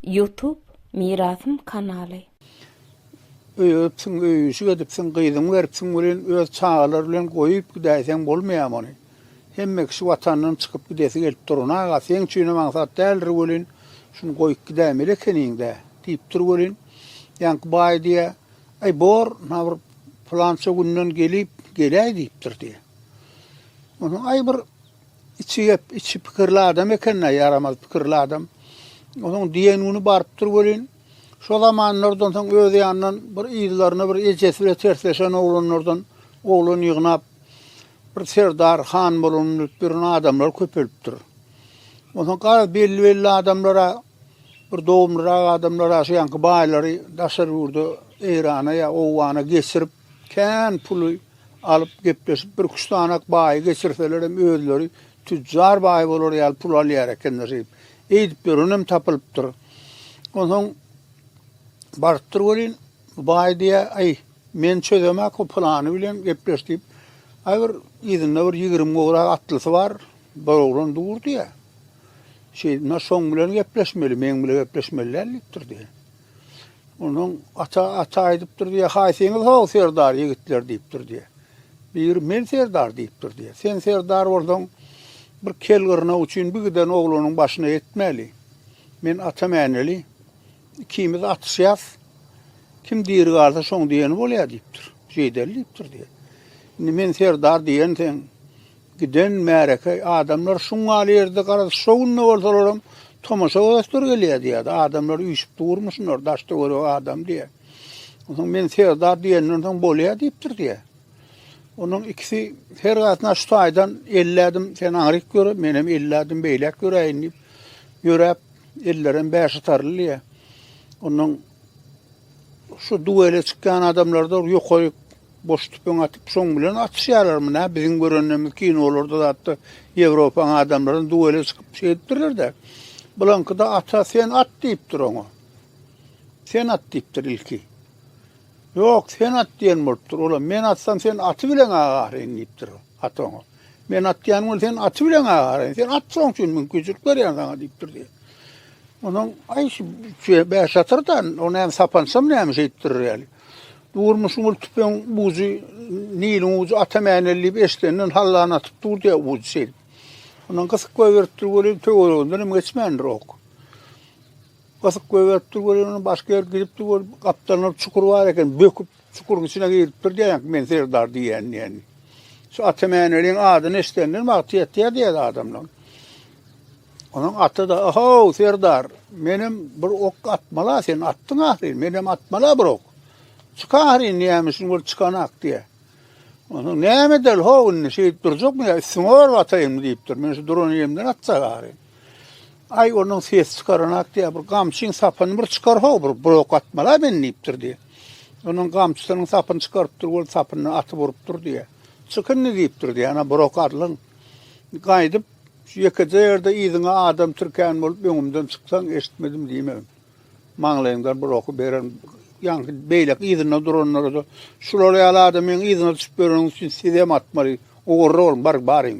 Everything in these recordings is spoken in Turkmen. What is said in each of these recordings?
Youtube mirasym kanaly. Öý öpsiň öýüşik edipsiň gyzyňy beripsiň welin öz çagalar bilen goýup gidäýseň bolmaýamy ony hemme kişi watandan çykyp gidesi gelip durun aga seň üçinem aňsat däldir welin şuny goýup gidäýmeli ekeniňdä diýip dur welin ýaňky baý diýä aý bor na bir pylança günden gelip geläý diýipdir diýä onsoň aý bir Içi gep, içi pikirli adam eken-de, ýaramaz pikirli adam. Onuň diýen güni barypdyr welin, şo zamanlardan soň öz ýanyndan bir yzlaryna bir ejesi bilen tersleşen oglanlardan oglan ýygnap, bir serdar, han bolalym diýip ýören adamlar köpelipdir. Onsoň garaz belli-belli adamlara, bir dogumlyrak adamlara şu ýanky baýlary daşary ýurda, Eýrana ýa Owgana geçirip, kän puly alyp gepleşip bir küştanak baýy geçirselerem özleri tüjjar baý bolar ýaly pul alýar ekenler diýip eýdip ýörenem tapylypdyr. Onsoň barypdyr welin bu baý diýýär, aý men çözemek o pylany bilen gepleş diýip aý bir yzynda bir ýigrimi gowrak atlysy bar bir oglan dur diýýär. Şeýdip şoň bilen gepleşmeli meň bilen gepleşmeli däl diýipdir diýýär. Onuň ata ata aýdypdyr diýýär, Haýsyňyz how serdar ýigitler diýipdir diýýär. Biri men serdar diýipdir diýýär. Sen serdar bolsaň, bir kel gyrnak üçin bir giden oglanyň başyna ýetmeli. Men ata mäneli, ikimiz atyşýas. Kim diri galsa şoň diýeni bolýar diýipdir. Jeýdeli diýipdir diýýär. Indi men serdar diýen sen Giden märeke adamlar şuň ýaly ýerde garaz şo günde bolsalaram tomaşa göreçler gelýär diýýärdi. Adamlar üýşüp durmy şunlar daş töweregi adam diýýär. Onsoň men Serdar diýenden soň bolýar diýipdir diýýär. Onuň ikisi her gatyna şu taýdan elli ädim sen aňryk ýöre, men hem elli ädim beýläk ýöräýin diýip ýöräp, ellerem bäşatarly diýýär. Onuň Şu duele çykýan adamlarda ýokaryk boş tüpeň atyp şoň bilen atyşýarlarmy nä biziň görenlerimiz kinolarda zatda ýewropaň adamlaram duele çykyp şeýdipdirlerdä bulaňkyda ata sen at diýipdir oňa sen at diýipdir ilki ýok sen at diýen bolupdyr olam men atsam sen aty bileň agaryn diýipdir at oňa men atýan bol sen aty bileň agaryn sen at şoň üçin mümkinçilik berýän saňa diýipdir diýen Onuň aý şu bäş satyrdan, o näme sapançam näme şeýtdir ýaly. Durmuşyň ol tüpeň bujy, niliň ujy ata mäneli diýip eşidenden hallany atyp dur diýär bujy şeýdip. Onuň gysyk goýberipdir welin töwereginden hem geçmändir ok. Gysyk goýberipdir welin onuň başga ýer gidipdir bol gapdalynda çukur bar eken, böküp çukuryň içine giripdir diýýän men serdar diýýän diýen. Şu ata mäneliň adyny eşidenden wagty ýetýär diýýär adamlaryň. Onuň aty-da, Ohow, serdar, menem bir ok atmala, sen atdyň ahyryn, menem atmala bir ok. Çyk ahyryn, näme üçin bolup çykanak diýe. Onuň näme edel, how, indi şeýdip durjakmy ýa, üstüňe baryp ataýynmy diýipdir. Men şu duran ýerimden atjak ahyryn. Aý, onuň ses çykaranak diýe, bir gamçyň sapyny bir çykar, how, bir, bir ok atmala men diýipdir diýe. Onuň gamçysynyň sapyny çykarypdyr, ol sapyny atyp urupdyr diýe. Çyk indi diýipdir diýe, ana bir ok alyň. Gaýdyp Şu ýekeje ýerde yzyňa adam tirkän bolup öňümden çyksaň eşitmedim diýmegin. Maňlaýyňdan bir oky bererin. Ýaňky beýleki yzynda duranlara-da şular ýaly adamyň yzyna düşüp ýöreniňiz üçin sizem atmaly. Ugurly boluň, baryň, baryň.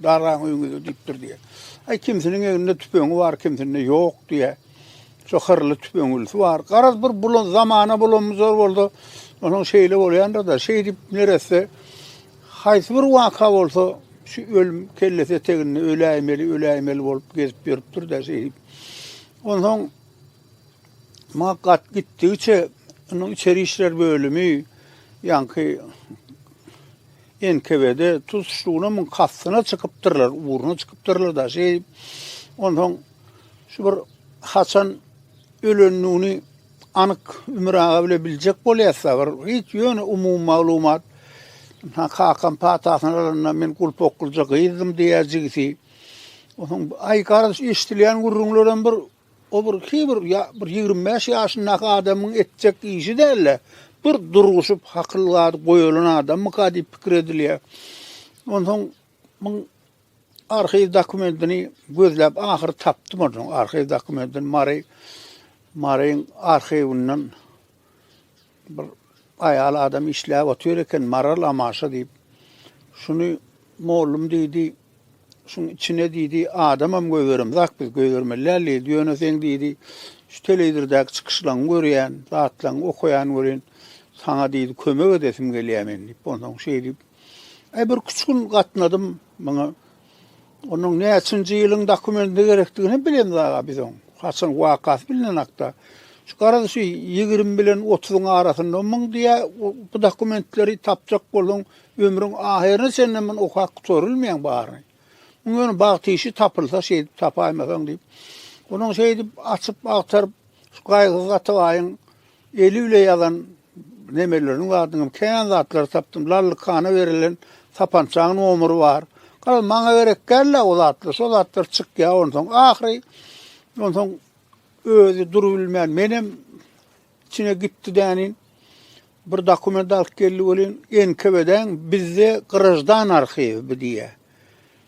Dargaň öýüňizde diýipdir diýýär. Aý kimsiniň elinde tüpeňi bar, kimsinde ýok diýýär. Şo hyrly tüpeňlisi bar. Garaz bir bulan zamana bulanmyzor bolsa, onuň şeýle bolýandyr-da. Şeýdip neresse Haýsy bir waka bolsa, şu ölüm kellesi eteginde öläýmeli, öläýmeli bolup gezip ýörüpdir-de şeýdip. Onsoň maňa gat gitdigiçe, onuň içeri işler bölümi, ýaňky NKWD tutuşlygyna muň kastyna çykypdyrlar, ugruna çykypdyrlar-da şeýdip. Onsoň şu bir haçan ölendigini Anyk Ümür aga bile biljek bolýasda bir hiç ýöne umumy maglumat. Ha kakam patasyny alanda men gulpoklyja gyzdym diýýär jigisi. Onuň aý garaz eşdilýän gürrüňlerem bir o bir ki bir ýa bir ýigrimi bäş ýaşyndaky adamyň etjek işi dälde bir durguşyp hakyl zady goýalan adamyka diýip pikir edilýär. Onsoň muň Arhiw dokumentini gözläp ahyry tapdym onuň arhiw dokumentini Mary Maryň arhiwinden bir aýal adam işläp otyr eken Maral Amaşa diýip. Şuny mollum diýdi. Şuň içine diýdi adamam göýberemzak biz göýbermelidäl diýdi. Ýöne sen diýdi şu telewizorydaky çykyşlaryňy görýän, zatlaryňy okaýan welin saňa diýdi kömek edesim gelýär men diýip. Onsoň şeýdip Äý bir küçük gün gatnadym muňa. Onuň näçinji ýylyň dokumentine gerekdigini hem bilemdi aga biz oň. Haçan wakasy bilinen hakda. Şu garaz şu 20 bilen 30-yň arasynda muň diýä bu dokumentleri tapjak bolsaň ömrüň ahyryna çenli muny okap gutarylmaýaň baryny. Muň ýöne bagt işi tapylsa şeýdip tapaýmasaň diýip. Onuň şeýdip açyp agtaryp şu gaýgysyz Atabaýyň eli bile ýazan Nemeleriň zadyňam kän zatlary tapdym. Lallykana berilen sapançaň nomeri bar. Garaz maňa gerek däl-ä o zatlar. Şo zatlar çykýar onsoň. Ahyry onsoň özi durup bilmän menem içine gitdi dänin. Bir dokument alyp geldi welin NKWD-den bizde grajdan arhiwi diýýär.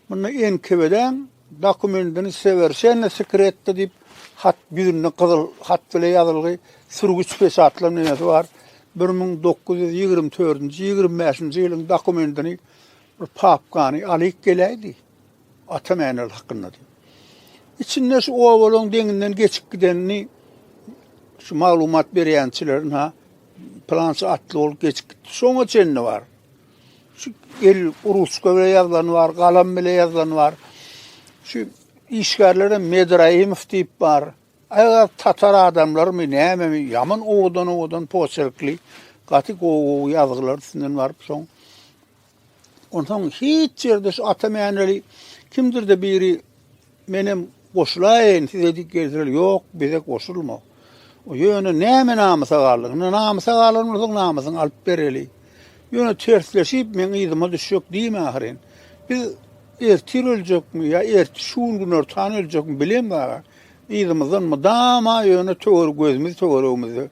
Munda NKWD-iň dokumentini Sowerşenno sekretto diýip hat ýüzünde gyzyl hat bile ýazylgy sürgüç peçatlan neme-si bar. Bir müň dokuz ýüz ýigrimi dördünji, ýigrimi bäşinji ýylyň dokumentini bir papkany alyk geläýdi. Ata Mäneli hakynda diýip. Içinde şu obalaň deňinden geçip gidenini şu maglumat berýänçileriň ha plança atly bolup geçip gitdi. Şoňa çenli bar. Şu el ruçka bilen ýazylany bar, galam bilen ýazylany bar. Şu işgärler hem Medraýemow diýip bar. Aýaz tatar adamlarymy, nämemi, ýaman owadan-owadan poçerkli, gaty gowy-gowy ýazgylar üstünden baryp soň. Onsoň hiç ýerde şu ata mäneli kimdir-de biri Menem goşulaýyn size diýip gelseler, ýok, bize goşulma. Ýöne näme namysa galdyň? Indi namysa galan bolsaň, namysyňy alyp bereli. Ýöne tersleşip, meň yzyma düşjek diýme ahyryn. Biz ertir öljekmi ýa ertir şu gün günortan öljekmi bilen bar. Yzymyzdan mydama ýöne töwer gözümiz töweregimizde.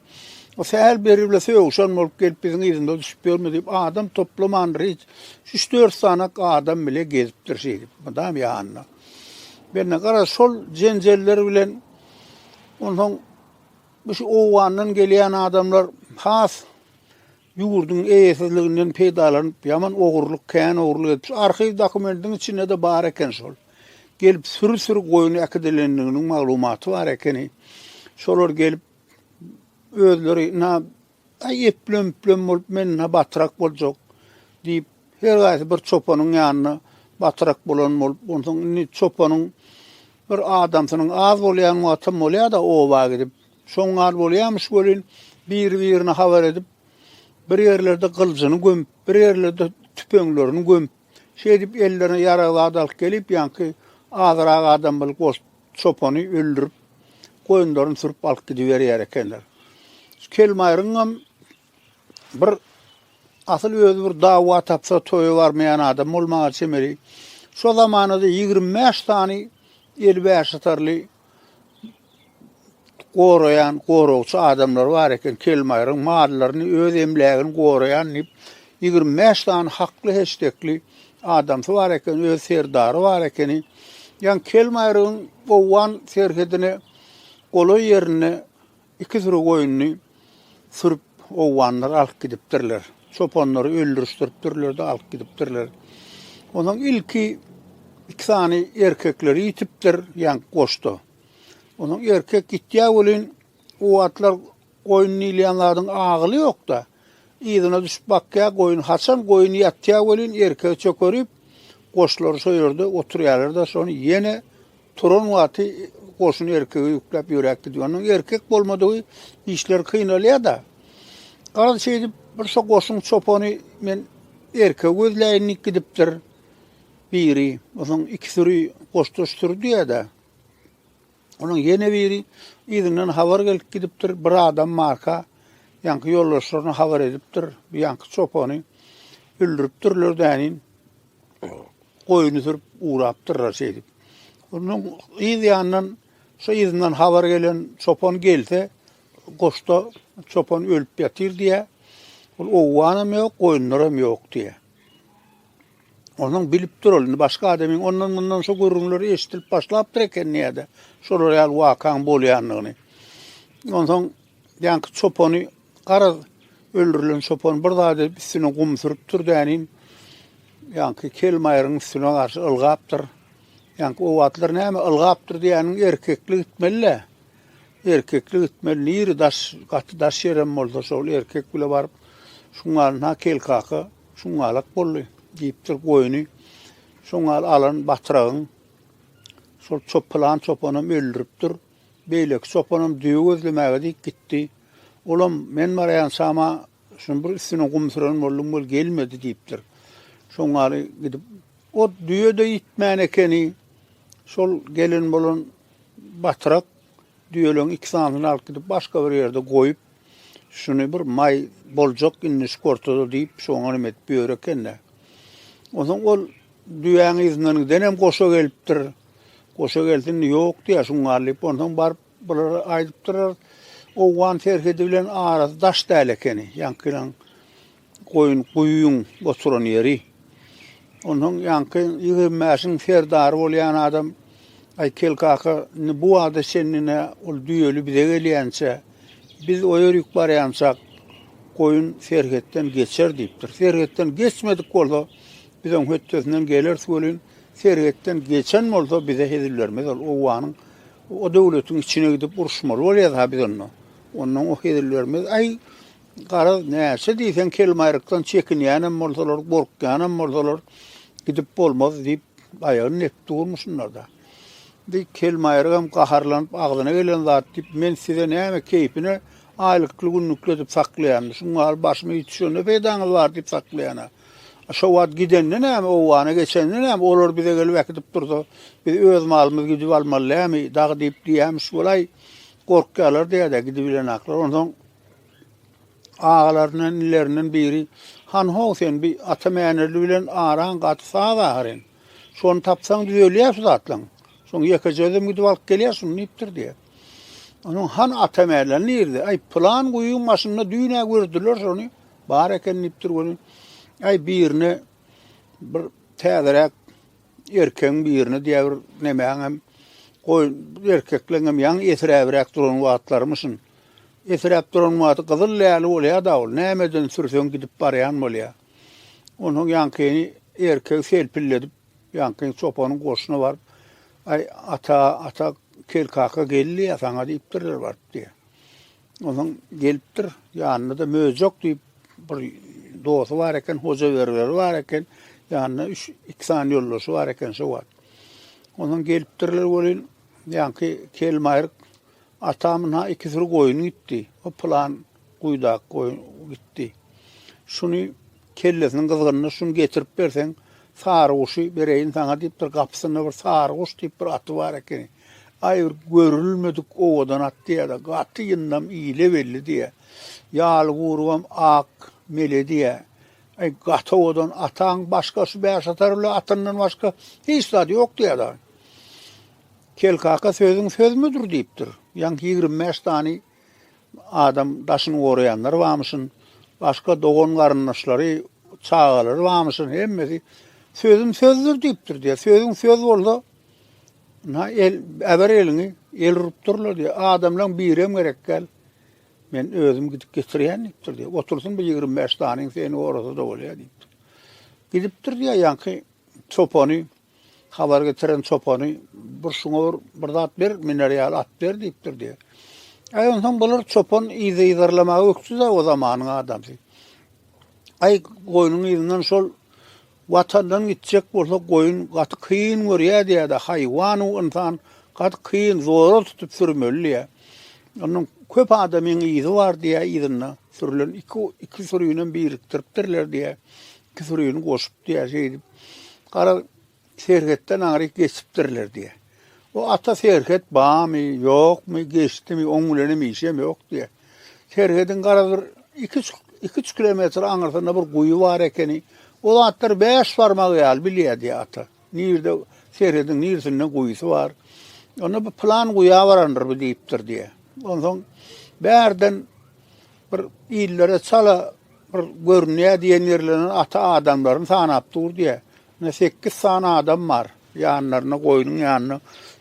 O sähel beri bile sögüşen bolup gelip biziň yzymyza düşüp ýörme diýip adam toplamandyr hiç. Üç-dört sany adam bile gezipdir şeýdip, mydam ýanynda. Benne gara şol jenjeller bilen onsoň bu şu Owgandan gelýän adamlar has ýurduň eýesizliginden peýdalanyp, ýaman ogurlyk, kän ogurlyk edip, arhiw dokumentiň içinde-de bar eken şol. Gelip süri-süri goýun äkidilendiginiň maglumaty bar ekeni. Şolar gelip özleri na Aý, eplem-üplem bolup men-hä batrak boljak, diýip, her gaýsy bir çopanyň ýanyna batrak bolan bolup, onsoň indi çopanyň bir adamsynyň az bolýan wagtam bolýar-da oba gidip. Şoň az bolýarmyş welin, biri-birine habar edip, bir ýerlerde gyljyny gömüp, bir ýerlerde tüpeňlerini gömüp, Şeýdip, ellerine ýarag zat alyp gelip, ýaňky azyrak adam bir goç çopany öldürip, goýunlaryny sürüp alyp gidiberýär ekenler. Kelmaýryňam bir asyl özi bir dawa tapsa toýa barmaýan adam bolmaga çemeli. Şo zamanada ýigrimi bäş sany eli bäşatarly goraýan goragçy adamlary bar eken, Kelmaýryň mallaryny, öz emlägini goraýan diýip, ýigrimi bäş sany hakly heşdekli adamsy bar eken, öz serdary bar ekeni. Ýaňy Kelmaýrygyň owgan serhedine golaý ýerinde Iki süri goýnuny sürüp, owganlar alyp gidipdirler. Çopanlary öldürişdiripdirler-de, alyp gidipdirler. Onsoň ilki iki sany erkekleri ýitipdir, ýaňky goşda. Onsoň erkek ýitýä welin, o wagtlar goýun diýilýän zadyň agyly ýok-da. Yzyna düşüp bakýar, goýun haçan goýun ýatýar welin, erkegi çökerip, goşlary şo ýerde oturýarlar-da, şony ýene turan wagty goşuny erkege ýükläp ýöräp gidýär. Onuň erkek bolmadygy işleri kynalýar-da. Garaz şeýdip, bir şo goşuň çopany men erkegi gözläýin diýip gidipdir. Biri, onsoň iki süri goşdaş süri diýýär-de. Onuň ýene biri yzyndan habar gelip gidipdir. Bir adam Marka ýaňky ýoldaşlaryna habar edipdir. Bu ýaňky çopany öldüripdirler dänin. Goýny sürüp ugrapdyrlar şeýdip. Onuň yz ýanyndan şu yzyndan habar gelen çopan gelse, goşda çopan ölüp ýatyr diýýär. Ol owganam ýok, goýunlaram ýok diýýär. Onuň bilip dur ol, indi başga adamyň ondan-mundan şu gürrüňleri eşidilip başlapdyr eken näde, şolar ýaly wakaň bolýandygyny. Onsoň ýaňky çopany, garaz, öldürilen çopan bir zat edip üstüne gum sürüpdir dänim. Ýaňky kelmaýryň üstüne garşy ylgapdyr. Ýaňky o wagtlar näme ylgapdyr diýeniň erkeklik gitmeli-le. Erkeklik gitmeli, niri daş, gaty daş ýerem bolsa şol erkek bile baryp, şuňa na kelkaka. Şuňňalak boldy, diýipdir goýny. Şuňňal alan batyragyň şol çop pylan çopanam öldüripdir. Beýleki çopanam düýe gözlemäge diýip gitdi. Olam men barýançama şunuň bir üstüne gum süren boldum, ol gelmedi diýipdir. Şuňňaly gidip, o düýe-de ýitmän ekeni. Şol gelen bolan batyrak düýeleriň iki sanysyny alyp gidip başga bir ýerde goýup, Şuny bir maý boljak indi şu kortada diýip, şu oňa neme edip ýör eken-de. Onsoň ol düýäň yzyndan gidenem goşa gelipdir. Goşa gelsin, ýok diýär, şuň gal diýip, onsoň baryp bulara aýdypdyr. Owgan serhedi bilen arasy daş däl ekeni, ýaňkylaň Goýun guýyň oturan ýeri. Onsoň ýaňky ýigrimi bäşiň serdary bolýan adam, Aýkel kaka, indi bu wagta çenli-ne ol düýeli bize gelýänçä, biz o ýörük barýançak, goýun serhetden geçer diýipdir. Serhetden geçmedik bolsa, biz oň hötdesinden geleris welin, serhetden geçen bolsa, bize hezil bermez ol. Owanyň, o döwletiň içine gidip uruşmaly bolýas-ha biz onda. Ondan o hezil bermez. Aý, Garaz, näçe diýseň kelmaýrykdan çekinýänem bolsalar, gorkýanam bolsalar, gidip bolmaz diýip, aýagyny nepip durmy şunlarda? Indi kelmaýrygam gaharlanyp, agzyna gelen zat diýip, men size näme keýpine aýlykly-günlükli edip saklaýan, şuň ýaly başyma iş düşende peýdaňyz bar diýip saklaýan-a. Şo wagt gidende näme, owgana geçende näme, olar bize gelip äkidip dursa, biz öz malymyzy gidip almaly dämi, dagy diýip diýýämiş bolaý, gorkýarlar diýýär-dä gidibilenaklar. Onsoň Agalaryndan, inilerinden biri, Han-how sen, bi ata Mänerli bilen araň gaty saz ahyryn. Şony tapsaň düzelýär şu zatlaň. Şoň ýekeje özüm gidip alyp gelýär şuny diýipdir diýýär. Onuň Han ata Mäler nirde? Aý, pylan guýyň başynda düýn-ä gördüler şony. Bar eken diýipdir göni. Aý, birine bir täzeräk Erkegiň birine diýä bir nemäň hem goýun erkekleň hem ýaňy esiräbräk duran wagtlarymyşyn. Esiräp duran wagty gyzyl läli bolýa-da ol, nämeden sürseň gidip barýan bolýa. Onsoň ýaňkyny erkegi selpilledip, ýaňky çopanyň goşuna baryp, Aý, ata, ata, kel kaka geldi-ýa saňa diýipdirler baryp diýýä. Onuň gelipdir, ýanynda-da Möjek diýip bir dosty bar eken, hoja beriberi bar eken, ýanynda üç, iki sany ýoldaşy bar eken şo wagt. Onuň gelipdirler welin, ýaňky kelmaýryk atamyň ha iki süri goýun gitdi. O plan guýdak goýun gitdi. Şuny kellesiniň gyzgynyna şuny getirip berseň, sary guşy bereýin saňa diýipdir, gapysynda bir sary guş diýip bir aty bar eken. Aý bir görülmedik owadan at diýýä-de, gaty ýyndam ile belli diýýä. Ýaly gurbam ak mele diýýä. Aý gaty owadan ataň başga şu bäşatar bile atyndan başga hiç zady ýok diýýä-de. Kel kaka sözüň sözmüdir diýipdir. Ýaňky ýigrimi bäş sany adam daşyny goraýanlar barmyşyn. Başga dogan-garyndaşlary, çagalary barmyşyn. Hemmesi sözüm sözdür diýipdir diýýä. Sözüň söz bolsa Na el äber eliňi, el urup durlar diýip, adamlaryň birem gerek däl. Men özüm gidip getirýän diýipdir diýip. Otursyn bu 25 danyň seni orada da bolýar diýipdir. Gidipdir diýip, ýaňky çopany habar getiren çopany bir şuňa bir, bir zat ber, miner ýaly at ber diýipdir diýip. Aý onsoň bular çopan yzarlamaga ökdüde o zamanyň adamsy. Aý goýnuň yzyndan şol Watandan gitjek bolsa goýun gaty kyn görýä diýädä haýwan u ynsan gaty kyn zora tutup sürmeli diýä. Onuň köp adamyň yzy bar diýä yzynda sürlen iki iki sürünem birikdiripdirler diýä iki sürüni goşup diýä şeýdip garaz serhetden ary geçipdirler diýä. O ata Serhet bamy, ýokmy, geçdimi, oň bilenem işem ýok diýýär. Serhediň garaz bir iki-üç iki-üç kilometr aňyrsynda bir guýy bar ekeni. O zatlar bäş barmagy ýaly bilýär diýýär ata. Nirde Serhediň nirsinde guýusy bar. Onda bu plan guýa barandyr bu diýipdir diýýär. Onsoň bärden bir illere çala bir görünýär diýen ýerlerden ata adamlaryny sanap dur diýýär. Ine sekiz sany adam bar. Ýanlaryna, goýnuň ýanyna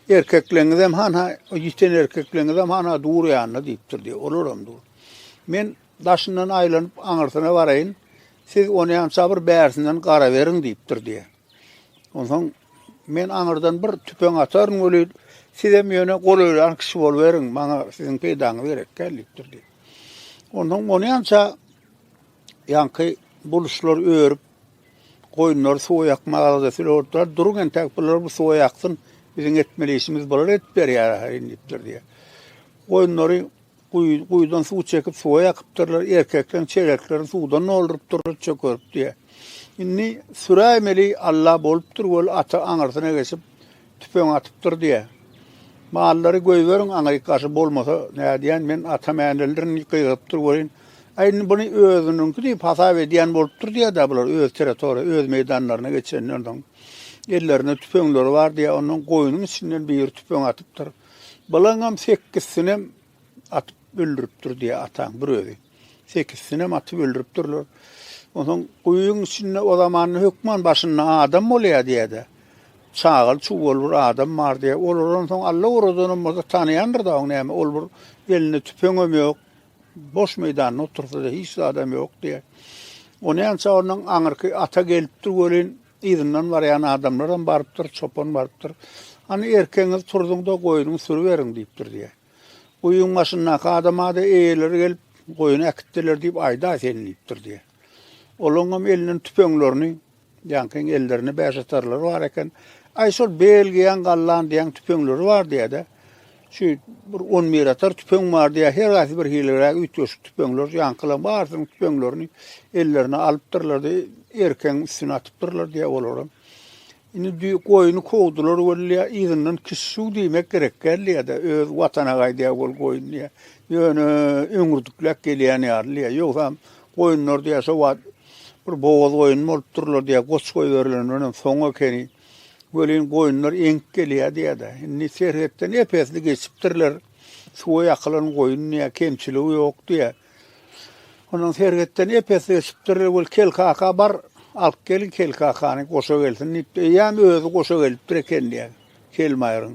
erkekleňizem han-ha, ýiten erkekleňizem han-ha dur ýanyna diýipdir diýýär. Olaram dur. Men daşyndan aýlanyp aňyrsyna baraýyn. Siz onýança bir bärsinden garaberiň diýipdir diýýär. Onsoň men aňyrdan bir tüpeň ataryn welin, sizem ýöne golaýlan kişi boluberiň, maňa siziň peýdaňyz gerek däl diýipdir diýýär. Onsoň onýança ýaňky buluşlar örüp, Goýunlary suwa ýakmak arada filortlar duruň entäk bular bu suwa ýaksyn, biziň etmeli işimiz bular edip berýär ahyrin diýipdir diýýär. Goýunlary guýydan suw çekip suwa ýakypdyrlar, erkekleň çereklerini suwdan doldurypdyrlar, çökerip diýýär. Indi süräýmeli Alla bolupdyr weli ata aňyrsyna geçip Tüpeň atypdyr diýä. Mallary goýberiň, aňyryk gaşy bolmasa, nädýän, men atam äneldirin diýip gygyrypdyr welin, Aý, indi buny özüniňki diýip hasap edýän bolupdyr diýä-dä bular öz territoriýa, öz meýdanlaryna geçenden soň. Ellerinde tüpeňleri bar diýä, ondan goýnuň içinden biri tüpeň atypdyr. Bulaňam sekizsinem atyp öldüripdir diýä ataň bir özi. Sekizsinem atyp öldüripdirler. Onsoň guýyň içinde o zamanda hökman başynda adam bolýar diýýär-de. Çagaly çuwaly bir adam bar diýýär. Olar onsoň Alla oradanam bolsa tanaýandyr-da oň näme. Ol bir elinde tüpeňem ýok. Boş meýdanda otursa-da hiç zadam ýok diýýär. O näçe ondan aňyrky ata gelipdir welin, yzyndan barýan adamlaram barypdyr, çopan barypdyr. Hany erkegiňizi turzuň-da, goýnuňy sürüberiň diýipdir diýýär. Guýyň başyndaky adama-da eýeleri gelip, goýun äkitdiler diýip aýdaý sen diýipdir diýýär. Olaňam elinden tüpeňlerini, ýaňkyň ellerinde bäşatarlary bar eken. Aý şol belgiýäň gallan diýýäň tüpeňleri bar diýýär-de. Şu bir on bir atar tüpeň bar diýýär. Her haýsy bir hiliräk üýtgeşik tüpeňler, ýaňkylaň barysynyň tüpeňlerini ellerine alypdyrlar-da, erkegiň üstüne atypdyrlar diýýär olaram. Indi düýe goýny kowdular weli yzyndan kişşuw diýmek gerek gelýä-de, öz watana gaýdýa ol goýun diýä. Ýöne öňürdikläp gelýän ýaly diýä. Ýogsam goýunlar diýä şo wagt bir bogaz goýun bolupdyrlar diýä, goç goýberilen bilenem soň ekeni. Welin goýunlar eňip gelýä diýä-de. Indi serhetden ep-esli geçipdirler. Suwa ýakylan goýun diýä, kemçiligi ýok diýä. Onuň serhetden epesi öçüpdir. Ol Kelkaka bar, alyp geliň Kelkakany, goşa gelsin diýipdir. Eýýäm özi goşa gelipdir eken diýýär Kelmaýryň.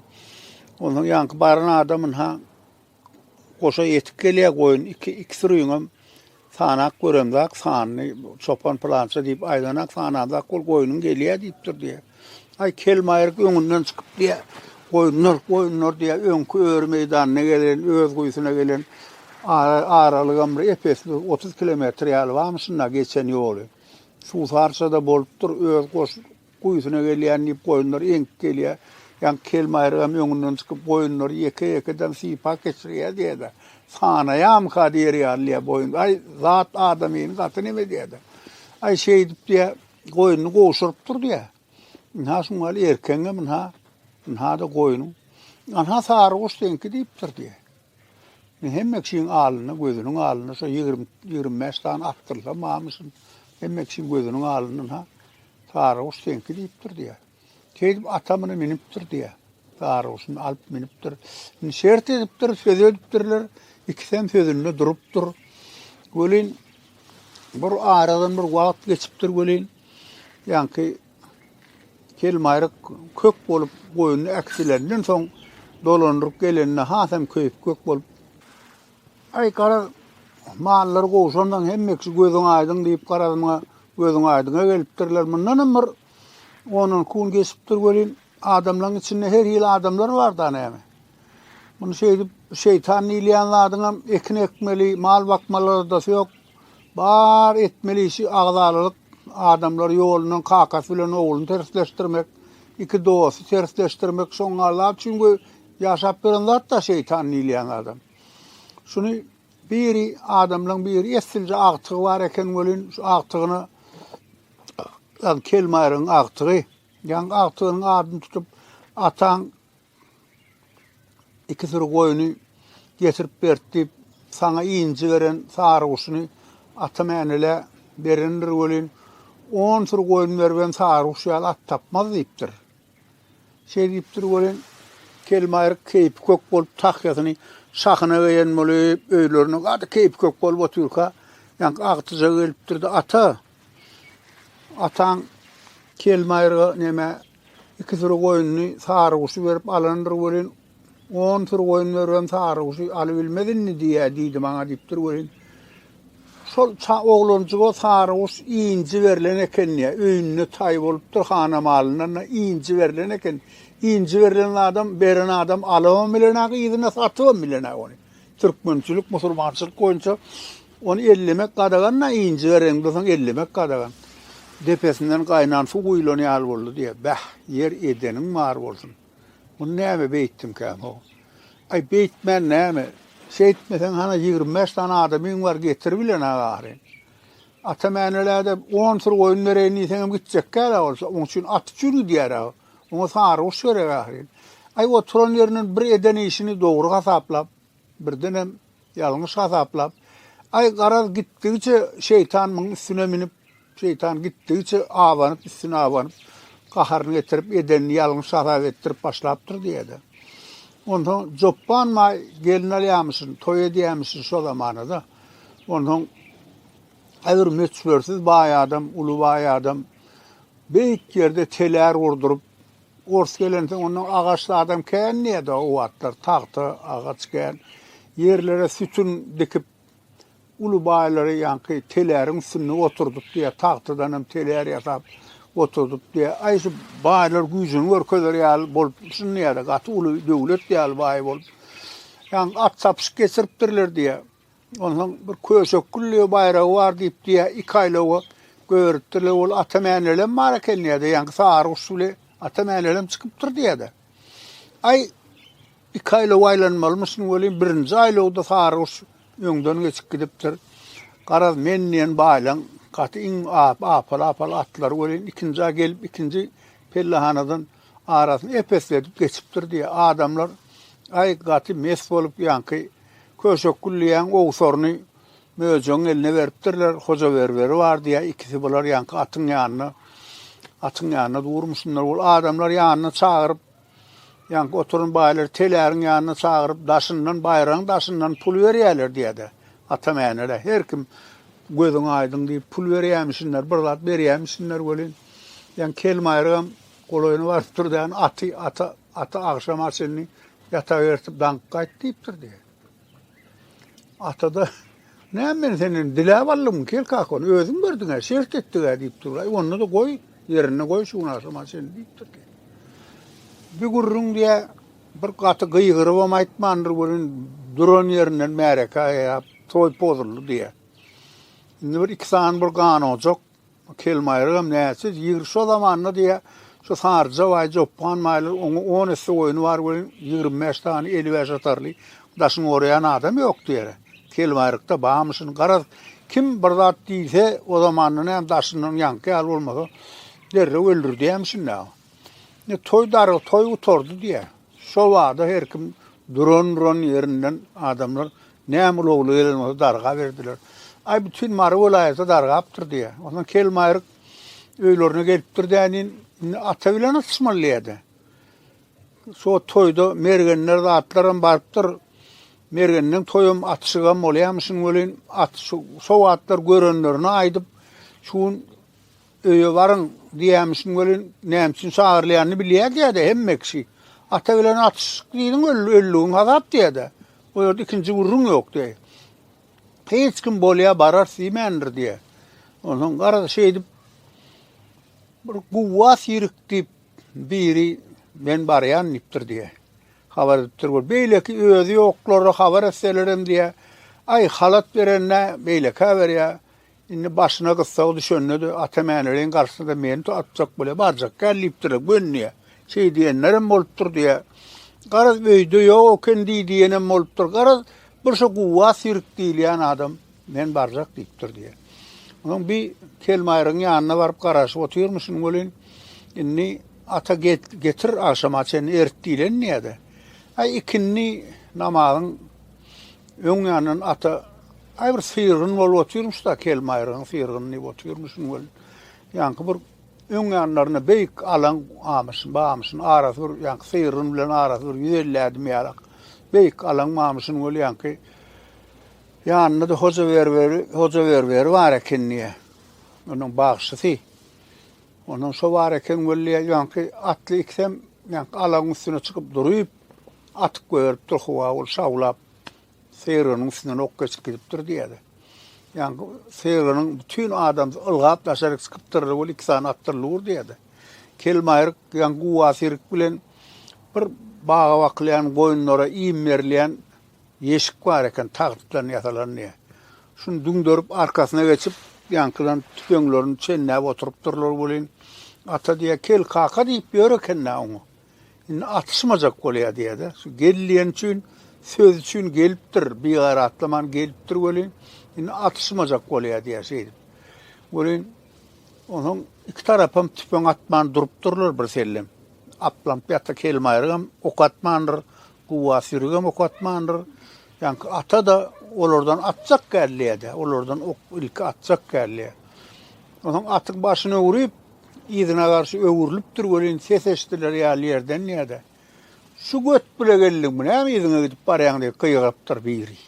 Onsoň ýaňky baran adam ynha goşa ýetip gelýär, goýun iki, iki sürüňem sanap göremzak, sanyny çopan pylança diýip aýdanak, sanamzak, ol goýnuň gelýär diýipdir diýýär. Aý, Kelmaýryk öňünden çykyp diýýär, Goýunlar, goýunlar diýýär, öňki öri meýdanyna gelen, öz guýusyna gelen aralygam bir ep-esli bir otuz kilometr ýaly barmy şunda geçen ýoly. Suwsarça-da bolupdyr, öz goş guýusyna gelýän diýip goýunlar eňip gelýär. Ýaňky Kelmaýrygam öňünden çykyp goýunlary ýeke-ýekeden sypap geçirýär diýýär-de, Sanaýamyka diýer ýaly diýýär boýun. Aý, zat adamyny gaty neme diýýär-de. Aý, şeýdip diýýär, Goýnuny gowşuryp dur diýä. Ynha şuň ýaly erkegiňem ynha, ynha-da goýnuň. Ynha sary guş seňki diýipdir diýä. Men hemme kişiň alnynda, gözüniň alnynda şo ýigrimi, ýigrimi bäş sany atdyrsam, mamyşyn, hemme kişiň gözüniň alnynda ynha sary guş seňki diýipdir diýä. Şeýdip, ata muny münüpdir diýýär. Garguşuny alyp münüpdir. Indi şert edipdir, söz edipdirler. Ikisem sözünde durupdyr. Welin, bir aradan bir wagt geçipdir welin, ýaňky kelmaýryk kök bolup goýnuny äkitlenden soň dolandyryp gelende hasam köýüp kök bolup Aý gara mallary gowşandan hemmesi gözüň aýdyň diýip garadyma gözüň aýdyňa gelipdirler. Mundanam bir On-on kun geçipdir welin, adamlaryň içinde her hili adamlar bar-da näme? Muny şeýdip, şeýtan diýilýän zadyňam ekin ekmeli, mal bakmaly ardasy ýok. Bar etmeli işi agzalalyk, adamlary ýolundan kakasy bilen ogluny tersleşdirmek, iki dosty tersleşdirmek, şoňa zat üçin we ýaşap beren zat-da şeýtan diýilýän adam. Şuny biri adamlaryň biri essilje agtygy bar eken welin, şu agtygyna Ýag kelmaýryň agtygy. Ýaň agtygynyň adyny tutup, ataň iki süri goýny getirip berdi diýip, saňa inji beren sary guşuny ata mänelä berendir welin, on süri goýun beribem sary guş ýaly at tapmaz diýipdir. Şeý diýip dur welin, Kelmaýryk keýpi kök bolup, tahýasyny şahyna geýen bolup, öýlerine gaty keýpi kök bolup otyrka, ýaňky agtyja gelipdir-de, Ata, ataň Kelmaýryga neme, iki süri goýnuny, saryguşy berip alandyr welin, On süri goýun beribem saryguşy alybilmez indi diýýä diýdi maňa diýipdir welin. Şol oglanjyga saryguş inji berlen eken diýýä. Öýünde taý bolupdyr hana malyndan inji berlen eken. Inji berlen adam, beren adam alybam bilenäk yzyna satybam bilenäk ony. Türkmençilik, musulmançylyk boýunça ony ellemek gadagan da inji beren bolsaň ellemek gadagan. Depesinden gaýnan suw guýlan ýaly boldy diýýä. Bäh, ýer edeniň bar bolsun. Muny näme beýtdiňkäm-ow? Aý, beýtmän näme? Şeýtmeseň, hany ýigrimi bäş sany adamyň bar, getir bilene gary. Atam änelä-de on syr goýun bereýin diýseňem gitjekkä-dä ol. Oň üçin at üçin gidýär-ä. Oňa saryguş gerek ahyryn. Aý, oturan ýerinden bir eden işini dogry hasaplap, birdenem ýalňyş hasaplap, Aý, garaz, gitdigiçe şeýtan muň üstüne münüp, Şeýtan gitdigiçe abanyp, üstüne abanyp, gaharyny getirip, edenini ýalňyş hasap etdirip başlapdyr diýýär-de. Onsoň Jopban maý gelin alýamyşyn, toý edýämişin şo zamana-da. Onsoň äbir möçbersiz baý adam, uly baý adam beýik ýerde telär gurduryp, ors gelensoň ondan agaç zadam kän diýýär-de o wagtlar, tagta, agaç kän. Ýerlere sütün dikip, Uly baýlary ýaňky teläriň üstünde oturdyp diýýär, tagtadan hem telär ýasap oturdyp diýýär. Aý şu baýlar güýjüni görkezer ýaly bolup düşünýär, gaty uly döwlet ýaly baý bolup. Ýaň at çapyşyk geçiripdirler diýýär. Onsoň bir köşek gülli baýragy bar diýip diýýär, iki aýlawa göýeripdirler. Ol ata mänelem bar eken diýýär-de, ýaňky sary guş bile ata mänelem çykypdyr diýýär-de. Aý Iki aýlaw aýlanmalymyşyn welin, birinji aýlawda saryguş öňden geçip gidipdir. Garaz, men diýen baýlaň gaty iň apal-apal atlary welin, ikinji-ä gelip, ikinji pellehanadan arasyny ep-esledip geçipdir diýýä. Adamlar, Aý, gaty mes bolup, ýaňky Köşekgül diýýän owsaryny möjegiň eline beripdirler, Hojaberberi bar diýýä, ikisi bular ýaňky atyň ýanynda, atyň ýanynda durmuşynlar. Ol adamlar ýanyna çagyryp, Ýaňky oturan baýlar teläriň ýanyna çagyryp, daşyndan, baýragyň daşyndan pul berýärler diýýär-de. Atam Änelä her kim Gözüň aýdyň diýip pul berýämişinler, bir zat berýämişinler welin, ýaňky kelbaýragam golaýyna baryp durdy, Aty, ata, ata agşama çenli ýatabertip daňyp gaýt diýipdir diýýär. Atada, näme men senden diläp aldym, kel kakon, özüň berdiň-ä, şert etdik-ä diýip dur. Aý, onda-da goý, ýerinde goý şu günasama çyn diýipdir ki. Bir gürrüň diýä, bir gaty gyýgyrybam aýtmandyr welin, duran ýerinden märeke aýap, toý pozuldy diýä. Indi bir iki sany bir ganojak, Bu kelmaýrygam näçe ýigri şo zamanda diýýä, şu Saryja baý Joppan baýlar oňa on esse goýny bar welin, ýigrimi bäş sany eli bäş atarly daşyny oraýan adam ýokdy ýere. Kelmaýrykda bamyşyn, garaz, kim bir zat diýse, o zamanda näme daşyndan ýaňky ýaly bolmasa, derrew öldürdýämişin-dä. Indi toý darga, toý gutardy diýýä. Şo bada her kim duran-duran ýerinden adamlar näme ulagly gelen bolsa darga berdiler. Aý, bütin Mary welaýaty dargapdyr diýýä. Onsoň kelmaýryk öýlerine gelipdir dänin, indi ata bilen atyşmaly diýýä-de. Şo toýda mergenler zatlaram barypdyr. Mergenden toýam, atyşygam bolýarmyşyn welin, at şo wagtlar görenlerine aýdyp, şu gün Öýe baryň! diýýämişin welin, näme üçin çagyrylýanyny bilýär diýýä-dä hemme kişi. Ata bilen atyşyk diýdiň, öldügiň hasap diýýä-dä. O ýerde ikinji gürrüň ýok diýýä. Hiç kim bolýa bararys diýmändir diýýä. Onsoň garaz şeýdip bir guwwas ýirik diýip biri men barýan diýipdir diýýä. Habar edipdir bol. Beýleki özi ýoklara habar etselerem diýýä. Aý halat berende beýlekä berýä. Indi başyna gyssag düşende-de, Ata Mäneleýiň garşysyna meni tu atjak bolýar, barjak däl diýipdir-ä, gönüýä. Şeý diýenler hem bolupdyr diýýä. Garaz, öýde ýok eken diý diýen hem bolupdyr. Garaz, bir şu Guwwa Sirik diýilýän adam, Men barjak diýipdir diýýä. Onuň bi Kelmaýrygyň ýanyna baryp garaşyp otyrmyşyn welin, indi Ata get, getir agşama çenli erit diýlen diýýä-de. Aý, ikindi namazyň Öň ýandan ata aý bir syrgyn bolup otyrmyş da kelmaýryň syrgyn diýip otyrmyşyn welin. Ýaňky bir öň ýanlarynda beýik alan amyşyn, bamyşyn arasy bir ýaňky syrgyn bilen arasy bir 150 ädim ýalak. Beýik alan mamyşyn welin ýaňky ýanynda-da hoja berberi, hoja berberi bar eken diýýär. Onuň bagşysy. Onuň şo bar eken welin ýaňky atly ikisem ýaňky alagyň üstüne çykyp durup, Atyp goýberipdir howa ol şawlap Seýrgeniň üstünden ok geçip gidipdir diýýärler. Ýaňky Seýrgeniň bütin adam ylgap daşaryk çykypdyr ol iki sany atdyr lur diýýärler. Kelmaýryk ýaňky guwasyryk bilen bir baga bakylýan goýunlara iým berilýän ýeşik bar eken tagtdan ýasalan diýýär. Şuny düňderip arkasyna geçip ýaňkydan tüpeňlerini çenläp oturypdyrlar welin ata diýýär kel kaka diýip ýör eken-dä oňa. Indi atyşmajak bolýar diýýär-de. Şu gel diýen üçin, söz üçin gelipdir, bigaýratlaman gelipdir welin, indi atyşmajak bolýar diýýär şeýdip. Welin, onuň iki tarapam tüpeň atman durupdyrlar birsellem. Aplamp ýa-da kelmaýrygam ok atmandyr, guba sürügem ok atmandyr. Ýaňky ata-da olardan atjak gelýär-de, olardan ok ilki atjak gelýär. Onuň atyň başyny öwrüp, Yzyna garşy öwrülipdir welin ses eşdiler ýaly ýerden ýa-da Şu göt bile geldiňmi, näme yzyňa gidip barýaň diýip gygyrypdyr biri.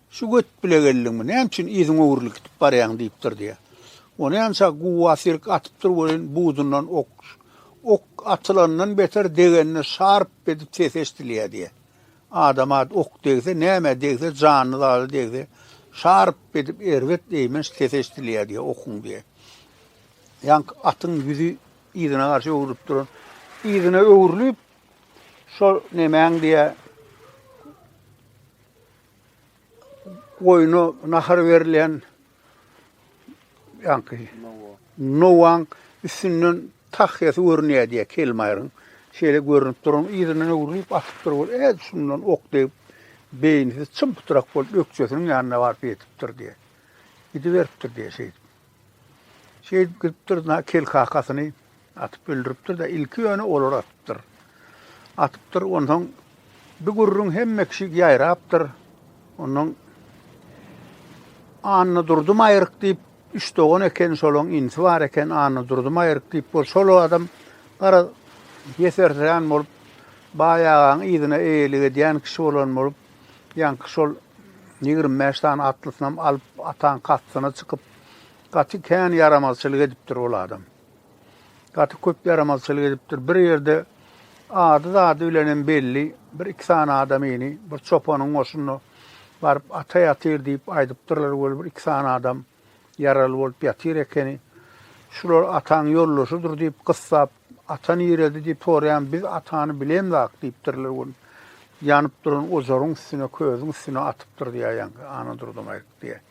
Şu göt bile geldiňmi, näme üçin yzyň öwrülip gidip barýaň diýipdir diýýär. Ony ança guwa sirk atypdyr welin budundan ok ok atylandan beter degende şarp edip ses eşdilýär diýýär. Adama ok degse, nämä degse, janyny zada degse, şarp edip erbet eýmenç sesi eşidilýär diýýär okuň diýýär. Ýaňky atyň ýüzi yzyna garşy öwrülip duran, yzyna öwrülip, şol nemäň diýýär, goýna nahar berilýän, Ýaňky Nowaň üstünden tahýasy görünýär diýär Kelmaýryň. Şeýle görünip duran yzyndan öwrülip atyp dur bol. Ed şundan ok degip beýnisi çym-pytrak bolup ökjesiniň ýanyna baryp ýetipdir diýär. Gidiberipdir diýär şeýdip. Şeýdip gidipdir na kel kakasyny Atyp öldüripdir-de, ilki ýöne olar atypdyr. Atypdyr, onsoň bir gürrüň hemme kişi ýaýrapdyr. Ondan Annadurdy Maýryk diýip, üç dogan eken, şolaň inisi bar eken, Annadurdy Maýryk diýip, bol şol adam gara ýesertren bolup, Baý agaň yzyna eýelik edýän kişi bolan bolup, ýaňky şol ýigrimi bäş sany atlysynam alyp, ataň kastyna çykyp, gaty kän ýaramazçylyk edipdir ol adam. Gaty köp ýaramazçylyk edipdir. Bir ýerde ady-zady bilenem belli bir iki sany adamyny bir çopanyň goşunyna baryp ata ýatyr diýip aýdypdyrlar weli bir iki sany adam ýaraly bolup ýatyr ekeni. Şular ataň ýoldaşydyr diýip gyssap ata nirede diýip soraýan biz atany bilemzak diýipdirler weli ýanyp duran ojaryň üstüne közüň üstüne atypdyr diýýär ýaňky Anadurdymaýyk diýýär.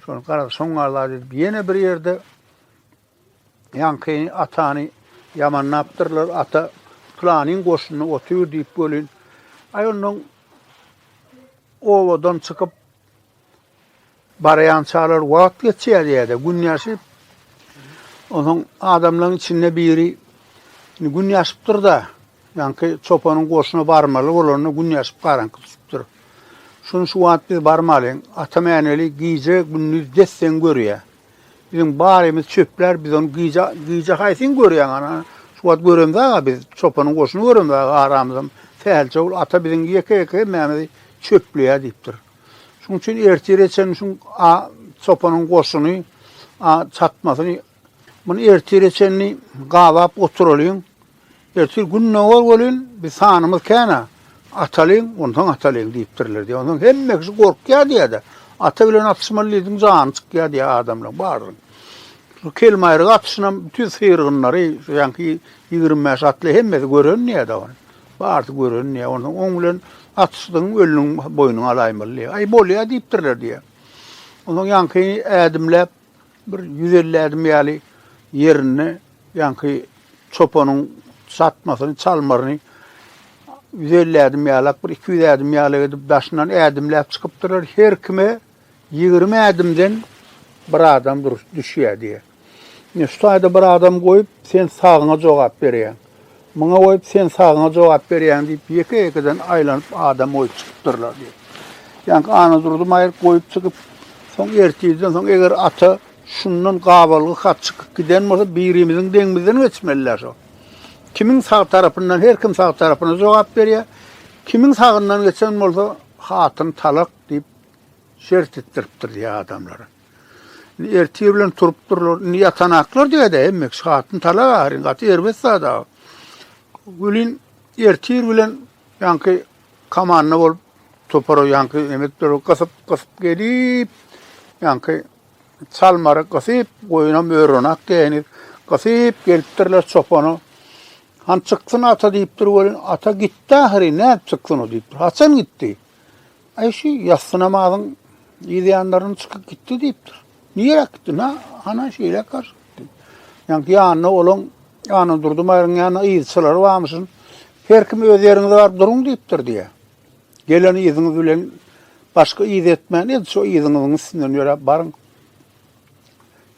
Şony garaz şoňňa zat edip ýene bir ýerde Ýaňky atany ýamanlapdyrlar, ata pylanyň goşunda otur diýip welin, aý ondan obadan çykyp barýançalar wagt geçýär ýerde, gün ýaşyp, onsoň adamlaryň içinde biri gün ýaşypdyr-da, ýaňky çopanyň goşuna barmaly bolanda gün ýaşyp garaňky düşüpdir. Şuny şu wagt biz barmalyň, atam äneli gije-gündiz desseň görýär. Biziň barymyz çöplär, biz ony gije, gije haýsyn görýäň ana? Şu wagt göremzag-a biz, çopanyň goşuny göremzag aramyzam. Sähelçowul ata biziň ýeke-ýeke hemmämizi çöpleýär diýipdir. Şuň üçin ertire çenli şuň a çopanyň goşuny a çatmasyny muny ertire çenli gabap oturalyň. Ertir Gündogar welin, biz sanymyz kän-ä. Atalyň, onsoň atalyň diýipdirler diýýär. Onsoň hemme kişi gorkýar diýýär-de. Ata bilen atyşmaly diýdiň, jany çykýar diýýär adamlaryň barynyň. Şu kelmaýryk atyşynam bütin syrgynlary, şu ýaňky ýigrimi bäş atly hemmesi gören diýýär-de ony. Barysy gören diýýär. Onsoň oň bilen atyşdyň, ölüniň boýnuny alaýmaly diýýär. Aý, bolýar diýipdirler diýýär. Onsoň ýaňky ädimläp, Bir ýüz elli ädim ýaly ýerinde ýaňky çopanyň çatmasyny, çalmaryny ýüz elli ädim ýalak, bir iki ýüz ädim ýalak edip daşyndan ädimläp çykypdyrlar. Her kime ýigrimi ädimden bir adam dur, düşýär diýýär. Ine, şu taýda bir adam goýup, sen sagyňa jogap berýäň. Muňa goýup sen sagyňa jogap berýäň diýip, ýeke-ýekeden aýlanyp adam goýup çykypdyrlar diýip. Ýaňky Anadurdy maýyr goýup çykyp, soň ertirden soň eger ata şundan gabalgy hat çykyp giden bolsa, birimiziň deňimizden geçmeli-dä şo. Kimiň sag tarapyndan, her kim sag tarapyna jogap berýär. Kimiň sagyndan geçen bolsa, hatyny talak diýip, şert etdiripdir diýýär adamlara. Indi ertir bilen turup durlar. Indi ýatanaklar diýdi hemmek şatyn tala gary gaty erbet zada. Gülin ertir bilen ýanky komanda bolup topara ýanky emek durup gysyp gysyp gelip ýanky çalmary gysyp goýuna mörenak diýeni gysyp gelipdirler çopana. Han çyksyn ata diýipdir welin ata gitdi ahyry näp çyksyn o diýipdir. Haçan gitdi? Aý şu ýassy namazyň yz ýanlaryn çykyp gitdi diýipdir. Nirek gitdi? Na, ana şeýle garşy gitdi. Ýaňky ýanyna olaň Ana durdy maýryň ýanyna yzçylary barmyşyn. Her kim öz ýeriňize baryp duruň diýipdir diýe. Gelen yzyňyz bilen başga yz etmän, edil şu yzyňyzyň üstünden ýöräp baryň.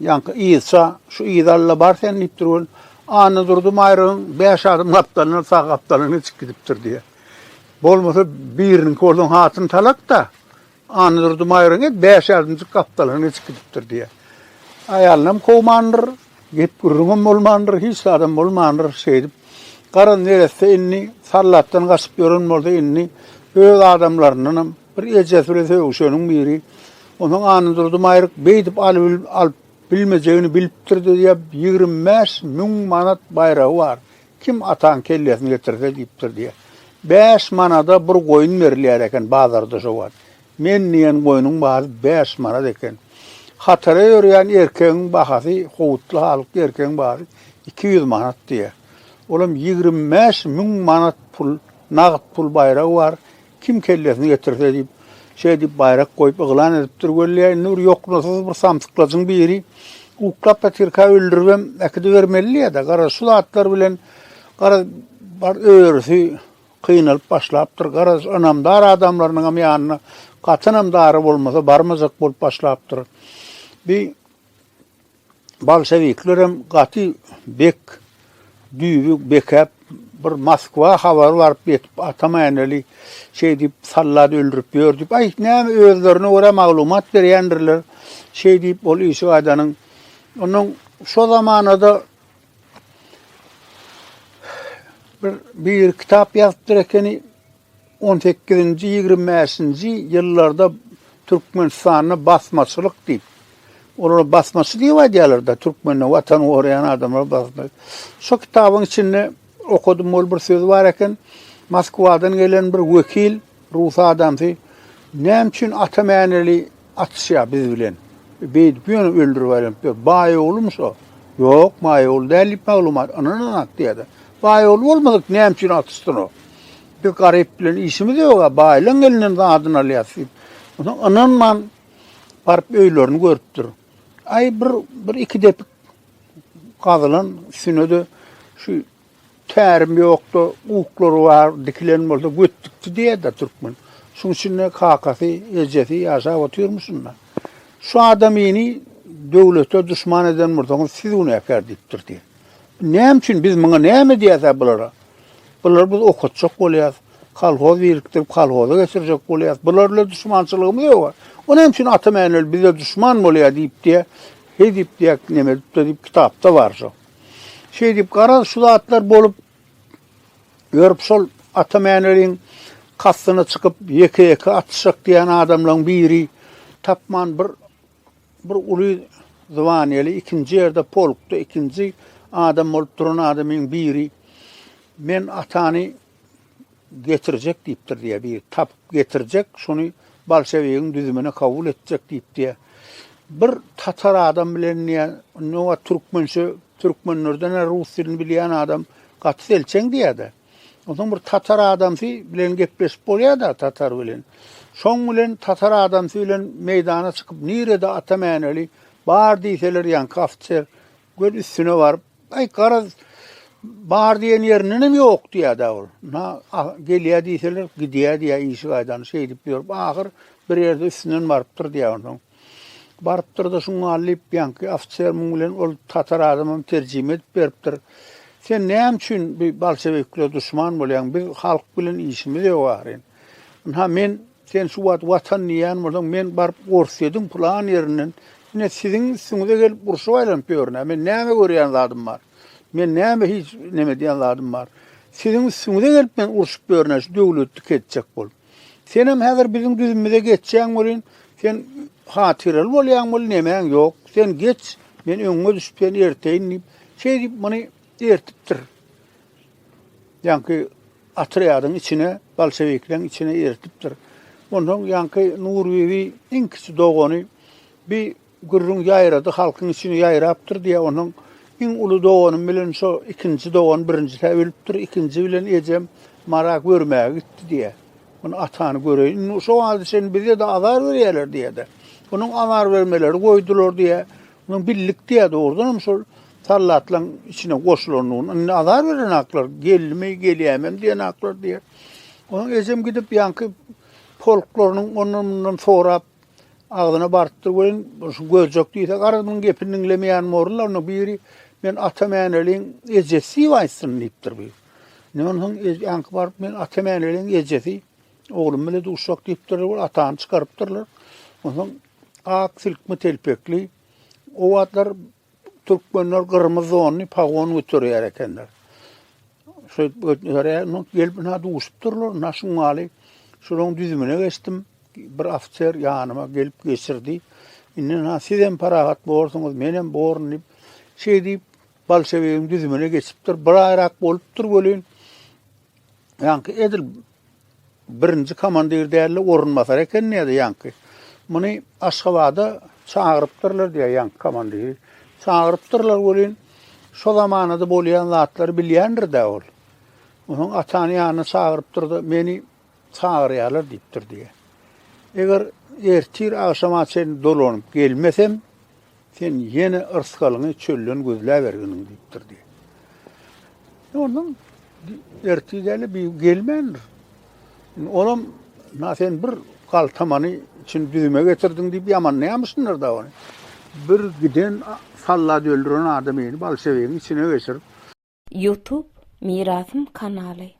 Ýaňky yzça, Şu yz Alla bar sen diýip durgun, Annadurdy Maýrygyň bäş adym gapdalyndan sag gapdalyna geçip gidipdir diýýär. Bolmasa biriniňki bolsaň hatyn talak-da, Annadurdy Maýrygyň et bäş adymjyk gapdalyndan geçip gidipdir diýýär. Aýalynam kowmandyr, gep-gürrüňem bolmandyr, hiç zadam bolmandyr. Şeýdip, gara neresse indi sallatdan gaçyp ýören bolsa, indi öz adamlaryndanam Bir ejesi bilen sögüşeniň biri, Onsoň Anadurdy Maýryk beýdip alyp bilmejegini bilipdir diýýär, ýigrimi bäş müň manat baýragy bar, kim ataň kellesini getirse diýipdir diýýär. Bäş manada bir goýun berilýär eken bazarda şo wagt. Men diýen goýnuň bahasy bäş manat eken. Hatara ýörýän erkegiň bahasy, howutly halykly erkegiň bahasy iki ýüz manat diýýär. Olam ýigrimi bäş müň manat pul, nagt pul baýragy bar, Kim kellesini getirse diýip, şeý diýip baýrak goýup yglan edipdir weli, indi bir ýoknasyz bir samsyklajyň biri uklap ýatyrka öldüribem äkidibermelidä, garaz, şu zatlar bilen, garaz, bar örüsi kynalyp başlapdyr, garaz, ynamdar adamlarynyňam ýanyna gaty ynamdary bolmasa barmajak bolup başlapdyr. Bi. Bolşewiklerem gaty bek düýbi bekäp, bir Moskwa habary baryp ýetip, Atamäneli şeý diýip, soldat öldürip ýör diýip, aý, näme özlerine görä maglumat berýändirler. Şeý diýip, ol işik aýdanyň. Onnoň şo zamanada bir biri kitap ýazypdyr ekeni. On sekizinji, ýigrimi bäşinji ýyllarda Türkmenistanda basmaçylyk diýip, olara basmaçy diýip aýdýarlar-da, türkmende Watany goraýan adamlar basma. Şo kitabyň içinde okadym, ol bir söz bar eken, Moskwadan gelen bir wekil, rus adamsy, Näme üçin Ata Mäneli Atyşýa biz bilen. Beýdip ýöne öldürip aýlanypdyr. Baýoglumy şo? Ýok, Baýogly däl diýip maglumat. Ynanyň atyýada. Baýogly bolmadyk näme üçin atyşsyn o? Biz garyp bilen işimiz ýog-a, baýlaň elinden zadyny alýas diýip. Onsoň ynanman baryp öýlerini görüpdir. Aý bir bir iki depik gazylan üstüne-de şu Tärim ýokdy, uklary bar, dikilen bolsa göt dikdi diýer-de türkmen. Şuň üçin-de kakasy, ejesi ýaşap otyrmyşyn-da. Şu adamyny döwlete duşman eden bolsaňyz, siz günäkär diýipdir diýer. Näme üçin, biz muňa näme edýäs-ä bulara? Bulary biz okatjak bolýas, kolhoz birikdirip, kolhoza geçirjek bolýas. Bular bilen duşmançylygymyz ýog-a. O näme üçin Ata Mäneli bize duşman bolýar diýip diýýär. Heý diýip diýýär, neme edip-de diýip, kitapda bar şo. Şeýdip, garaz, şu zatlar bolup ýörüp, şol Ata Mäneliň kastyna çykyp, ýeke-ýeke atyşjak diýen adamlaryň biri tapman bir bir uly zwanýaly ikinji ýerde polkda ikinji adam bolup duran adamyň biri men atany Getirjek diýipdir diýýär biri. Tapyp getirjek, şony bolşewigiň düzümine kabul etjek diýip diýýär. Bir tatar adam bilen diýýär, indi oňa türkmençe, türkmenlerden rus dilini bilýän adam gaty selçeň diýýär-de. Onsoň bir tatar adamsy bilen gepleşip bolýar-da tatar bilen. Şoň bilen tatar adamsy bilen meýdana çykyp, nirede ata mäneli bar diýseler, ýaňky ofitser Göz üstüne baryp, aý garaz bar diýen ýerinden hem ýok diýýär-dä ol. Na gelýär diýseler, gidýär diýýär işi gaýdan. Şeýdip ýörüp, ahyr bir ýerde üstünden barypdyr diýýär onsoň. Barypdyr-da şuň gal diýip, ýaňky ofiser muň bilen ol tatar adamam terjime edip beripdir. Sen näme üçin bu bolşewiklere duşman bolýaň? Biz halk bilen işimiz ýok ahyryn. Ynha men Sen şu wagt Watan diýýän bolsaň, men baryp Orsýetiň pylan ýerinden ine siziň üstüňize gelip urşup aýlanyp ýörün-ä. Men näme görýän zadym bar? Men näme hiç neme edýän zadym bar? Siziň üstüňize gelip men urşup ýörün-ä şu döwleti kesjek bolup. Senem häzir biziň düzümimize geçýäň welin, sen hatyraly bolýaň welin nemäň ýok. Sen geç, men öňüňe düşüp seni erteýin diýip, şeýdip muny ertipdir. Ýaňky otrýadyň içine, bolşewikleriň içine eritipdir. Onsoň ýaňky Nurbibi iň kiçi dogany bir gürrüň ýaýrady, halkyň içine ýaýrapdyr diýýär. Onsoň iň uly doganym bilen şo ikinji dogan birinjisä ölüpdir, ikinji bilen ejem mara görmäge gitdi diýýär. Ony atany göreýin. Indi şo wagta çenli bize-de azar berýärler diýýär-de. Onuň azar bermeleri goýdular diýýär. Munuň birlikde-ä dogrudanam şol sallatlaryň içine goşulandygyny, indi azar beren haklar, geldimi, gelýämem diýen haklar diýer. Onuň ejem gidip ýaňky polklarynyň ondan-mundan sorap, agzyna barypdyr welin, şu gözjek diýse, garaz munuň gepini diňlemeýän mollarynyň biri, Men Atamäneliň ejesi diýip aýtsyn diýipdir bu. Indi ondan soň ýaňky baryp, Men Atamäneliň ejesi, oglum bilen duşjak diýipdirler, ol atany çykarypdyrlar. Onsoň Ak silkme telpekli. O wagtlar türkmenler gyrmyz donly pagon göterýär ekenler. Şu göterýär, gelip ina duşupdyrlar, na şuň maly şolaryň düzümine geçdim. Bir ofiser ýanyma gelip geçirdi. Indi na siz hem parahat borsuňyz, men hem borun diýip, şeý diýip, bolşewigiň düzümine geçipdir. Bir aýrak bolupdyr welin, ýaňky edil Birinji komandir dälde orunbasar eken diýýärdi ýaňky. Muny Aşgabada çagyrypdyrlar diýýär ýaňky komandiri. Çagyrypdyrlar welin, şo zamanada bolýan zatlary bilýändir-dä ol. Onuň atany ýanyna çagyrypdyr-da, meni çagyrýarlar diýipdir diýýär. Eger ertir agşama çenli dolanyp gelmesem, Sen ýene yrsgalyňy çölden gözläberginiň, diýip durdy. Ondan ertir däli bir gelmändir. Olam, na sen bir galtamany içini düzüme getirdiň, diýip ýamanlaýamyşdyndyr da ony. Bir giden sallat öldüren adam ýene bolşewigiň içine geçirip. Youtube Mirasym kanaly.